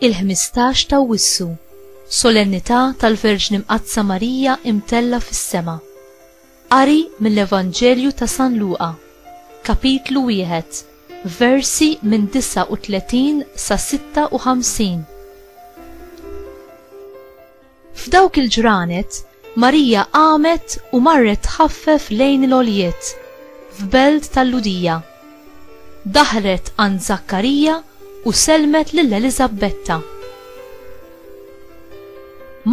il-15 ta' Wissu, solennità tal-Verġni Mqaddsa Marija imtella fis-sema. Qari mill-Evanġelju ta' San Luqa, kapitlu wieħed, versi minn 39 sa 56. F'dawk il-ġranet, Marija qamet u marret tħaffef lejn il-għoljiet, f'belt tal-Lhudija. Daħlet għand Żakkarija u sellmet lil Eliżabbetta.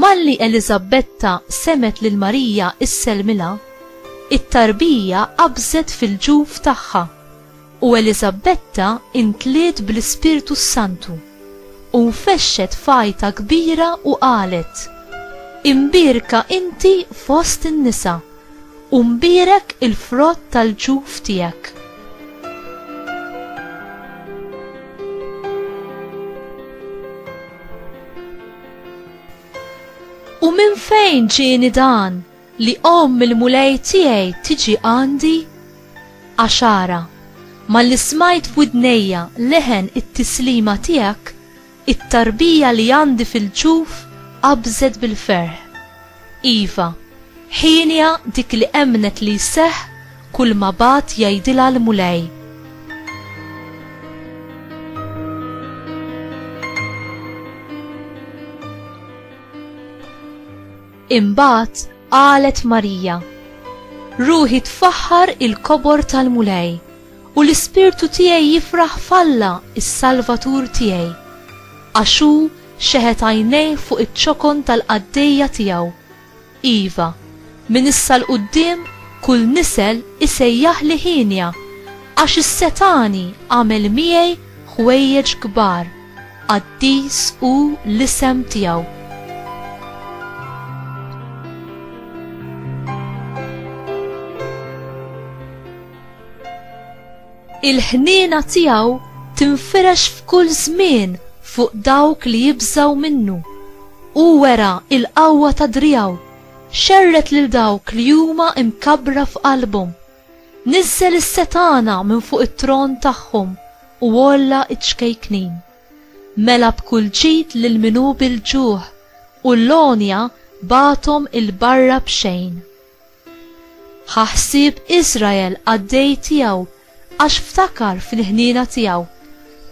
Malli Eliżabbetta semgħet lil Marija issellmilha, it-tarbija qabżet fil-ġuf tagħha. U Eliżabetta imtliet bl-Ispirtu s-Santu, u nfexxet f'għajta kbira u qalet, Imbierka inti fost in-nisa, u mbierek il-frott tal-ġuf tiegħek. U minn fejn ġieni dan? Li omm il-Mulej tiegħi tiġi għandi? Għax ara, malli smajt f'widnejja leħen it-tislima tiegħek, it-tarbija li għandi fil-ġuf qabżet bil-ferħ. Iva, hienja dik li emmnet li jseħħ kulma bagħat jgħidilha l-Mulej. Imbagħad qalet Marija, Ruħi tfaħħar il-kobor tal-Mulej, u l-ispirtu tiegħi jifraħ f'Alla s-Salvatur tiegħi, għax hu xeħet għajnejh fuq iċ-ċokon tal-qaddejja tiegħu, iva, minn issa 'l quddiem kull nisel isejjaħli hienja, għax is-setgħani għamel miegħi ħwejjeġ kbar. Qaddis hu l-isem tiegħu. Il-ħniena tiegħu tinfirex f'kull żmien fuq dawk li jibżaw minnu. U wera il-qawwa ta' drijaw, xerret lil dawk li huma imkabbra f'qalbhom. Niżżel is-setgħana minn fuq it-tron tagħhom u għolla ċ-ċkejknin. Mela b'kull ġid lil min hu bil-ġuħ, u l-għonja bagħathom 'il barra b'xejn. Ħa ħsieb Iżrael qaddej tiegħu għax ftakar fil-ħniena tiegħu,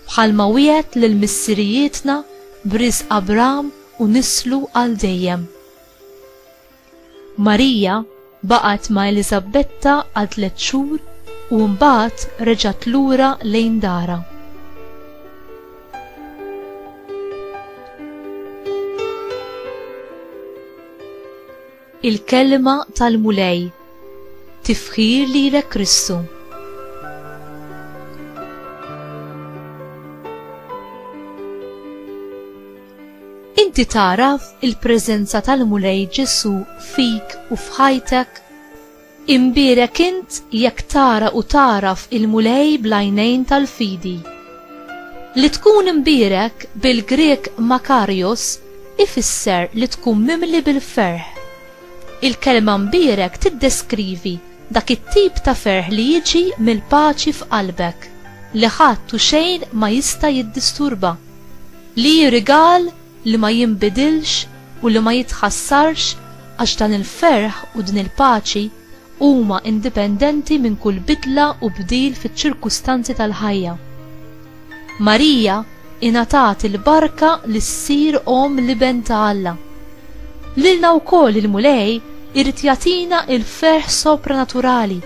bħalma wiegħed lil missirijietna b'riżq Abram u nislu għal dejjem. Marija baqgħet ma' Eliżabetta għal tliet xhur u mbagħad reġgħet lura lejn darha. Il-Kelma tal-Mulej Tifħir lilek Kristu. Inti tagħraf il-preżenza tal-Mulej Ġesù fik u f'ħajtek? Imbierek int jekk tara u tagħraf il-Mulej bl-għajnejn tal-fidi. Li tkun imbierek bil-Grieg makarios ifisser li tkun mimli bil-ferħ. Il-kelma mbierek tiddeskrivi dak it-tip ta' ferħ li jiġi mill-paċi f'qalbek, li ħadd u xejn ma jista' jiddisturba. Li hi rigal li ma jinbidilx u li ma jitħassarx għax dan il-ferħ u din il-paċi huma indipendenti minn kull bidla u bdil fiċ-ċirkustanzi tal-ħajja. Marija ingħatat il-barka li ssir omm l-Iben ta' Alla. Lilna wkoll il-Mulej irid jagħtina l-ferħ sopranaturali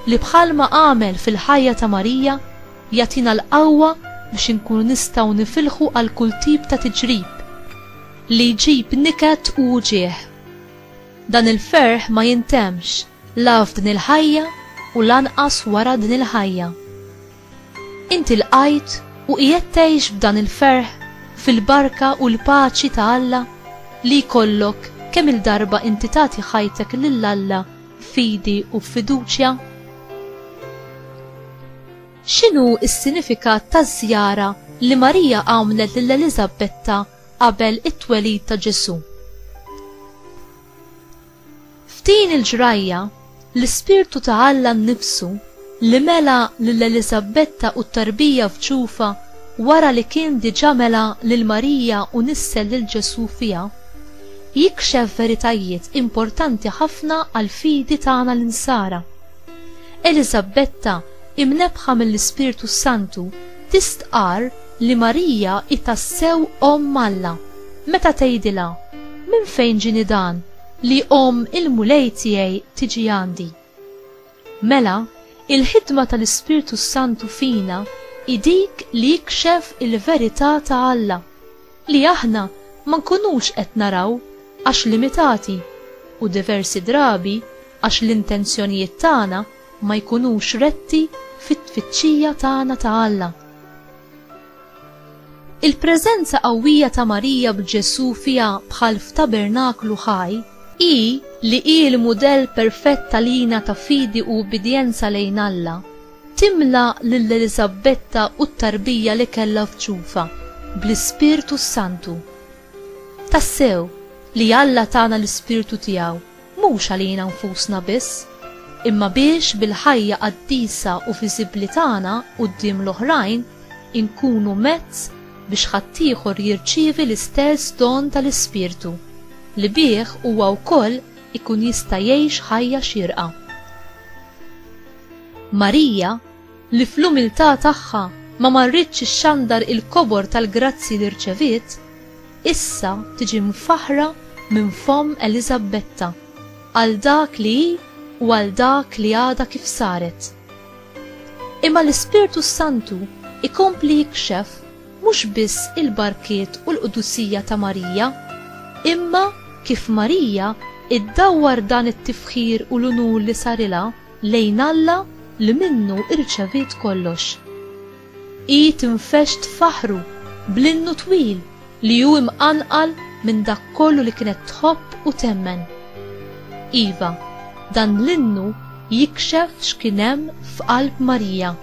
li bħalma għamel fil-ħajja ta' Marija, Jagħtina l-qawwa biex inkunu nistgħu nifilħu għal kull tip ta' tiġrib li jġib niket u wġigħ. Dan il-ferħ ma jintemmx la f'din il-ħajja u lanqas wara din il-ħajja. Inti lqajt u qiegħed tgħix b'dan il-ferħ fil-barka u l-paċi ta' Alla li jkollok kemm-il darba inti tagħti ħajtek lil Alla fidi u f'fiduċja? X'inhu s-sinifikat taż-żjara li Marija għamlet lil Eliżabetta qabel it-twelid ta' Ġesù? F'din il-ġrajja, l-Ispirtu ta' Alla nnifsu li mela lil Eliżabbetta u t-tarbija f'ġufha wara li kien diġà mela lil Marija u nissel lil Ġesù fiha, jikxef veritajiet importanti ħafna għall-fidi tagħna l-Insara. Eliżabbetta, imnebbħa mill-Ispirtu s-Santu, tistqarr li Marija hi tassew Omm Alla, meta tgħidilha, Minn fejn ġieni dan, li omm il-Mulej tiegħi tiġi għandi? Mela, il-ħidma tal-Ispirtu s-Santu fina hi dik li jikxef il-verità ta' Alla, li aħna ma nkunux qed naraw għax limitati, u diversi drabi għax l-intenzjonijiet tagħna ma jkunux retti fit-tfittxija tagħna ta' Alla. Il-preżenza qawwija ta' Marija b'Ġesù fiha bħal f'tabernaklu ħaj, hi li hi l-mudell perfett għalina ta' fidi u ubbidjenza lejn Alla, timla lil Eliżabbetta u t-tarbija li kellha f'ġufha bl-Ispirtu s-Santu. Tassew, li Alla tana l-Ispirtu tiegħu mhux għalina nfusna biss, imma biex bil-ħajja qaddisa u viżibbli tagħna quddiem l-oħrajn inkunu mezz biex ħaddieħor jirċievi l-istess don tal-Ispirtu, li bih huwa wkoll ikun jista' jgħix ħajja xierqa. Marija, li fl-umiltà tagħha ma marritx ixxandar il-kobor tal-grazzji li rċeviet, issa tiġi mfaħħra minn fomm Eliżabbetta għal dak li hi u għal dak li għadha kif saret. Imma l-Ispirtu s-Santu jkompli jikxef mhux biss il-barkiet u l-qdusija ta' Marija, imma kif Marija iddawwar dan it-tifħir u l-unur li sarilha, lejn Alla li minnu irċeviet kollox. Hi tinfexx tfaħħru bl-innu twil li hu imqanqal minn dak kollu li kienet tħobb u temmen. Iva, dan l-innu jikxef x'kien hemm f'qalb Marija.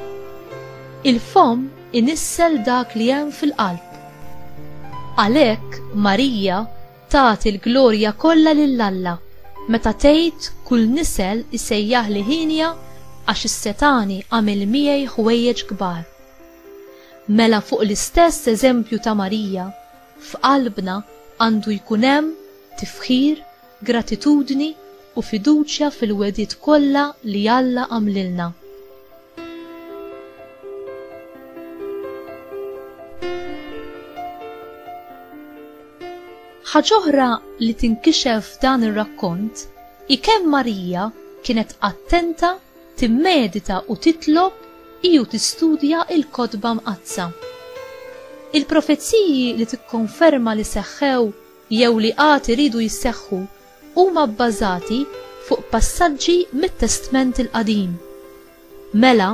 Il-fomm inissel dak li hemm fil-qalb. Għalhekk Marija Tagħti l-glorja kollha lil Alla meta tgħid kull nisel isejjaħli hienja għax is-setgħani għamel miegħi ħwejjeġ kbar. Mela fuq l-istess eżempju ta' Marija, f'qalbna għandu jkun hemm tifħir, gratitudni u fiduċja fil-wegħdiet kollha li Alla għamlilna. Ħaġoħra li tinkixef f'dan ir-rakkont i kemm Marija kienet attenta timmedita u titlob iju tistudja il-kotba mqaddsa. Il-profeziji li tikkonferma li seħħew jew li għad iridu jisseħħu huma bbażati fuq passaġġi mit-Testment il-Qadim. Mela,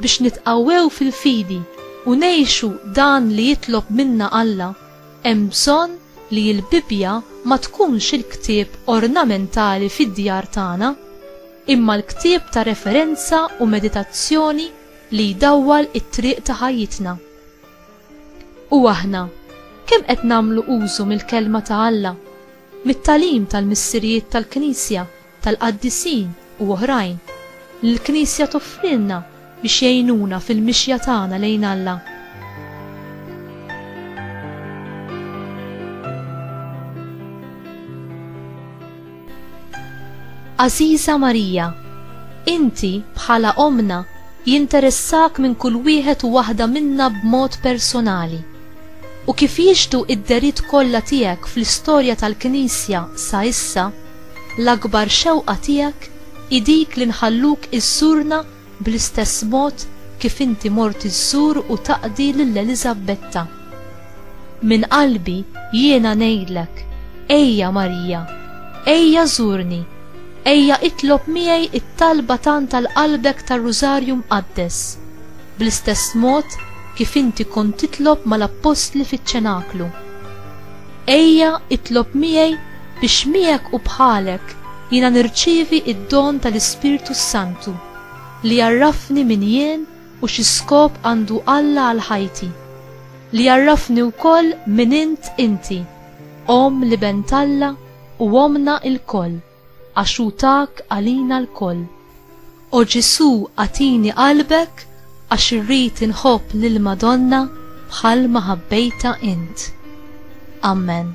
biex nitqawwew fil-fidi u ngħixu dan li jitlob minna Alla, hemm bżonn li l-Bibbja ma tkunx il-ktieb ornamentali fid-djar tagħna, imma l-ktieb ta' referenza u meditazzjoni li jdawwal it-triq ta' ħajjitna. U aħna, kemm qed nagħmlu użu mill-Kelma ta' Alla Mit-tagħlim tal-missirijiet tal-Knisja, tal-qaddisin u oħrajn, li l-Knisja toffrilna biex jgħinuna fil-mixja tagħna lejn Alla. Għażiża Marija, inti, bħala Ommna, jinteressak minn kull wieħed u waħda minna b'mod personali. U kif jixhdu id-dehriet kollha tiegħek fl-istorja tal-Knisja sa issa, l-akbar xewqa tiegħek hi dik li nħalluk iżżurna bl-istess mod kif inti mort iżżur u taqdi lil Eliżabbetta. Minn qalbi jiena ngħidlek, ejja Marija, ejja żurni, ejja itlob miegħi t-talba tant għal qalbek tar-Rużarju Mqaddes. bl-istess mod kif inti kont titlob mal-appostli fiċ-ċenaklu. Ejja itlob miegħi biex miegħek u bħalek jiena nirċievi d-don tal-Ispirtu s-Santu li jgħarrafni min jien u xi skop għandu Alla għal ħajti, li jgħarrafni wkoll min int inti, Omm l-Iben t'Alla u Ommna lkoll. għax hu tak għalina lkoll. O Ġesù agħtini qalbek għax irrid inħobb lill-Madonna bħal ma ħabbejtha int. Amen.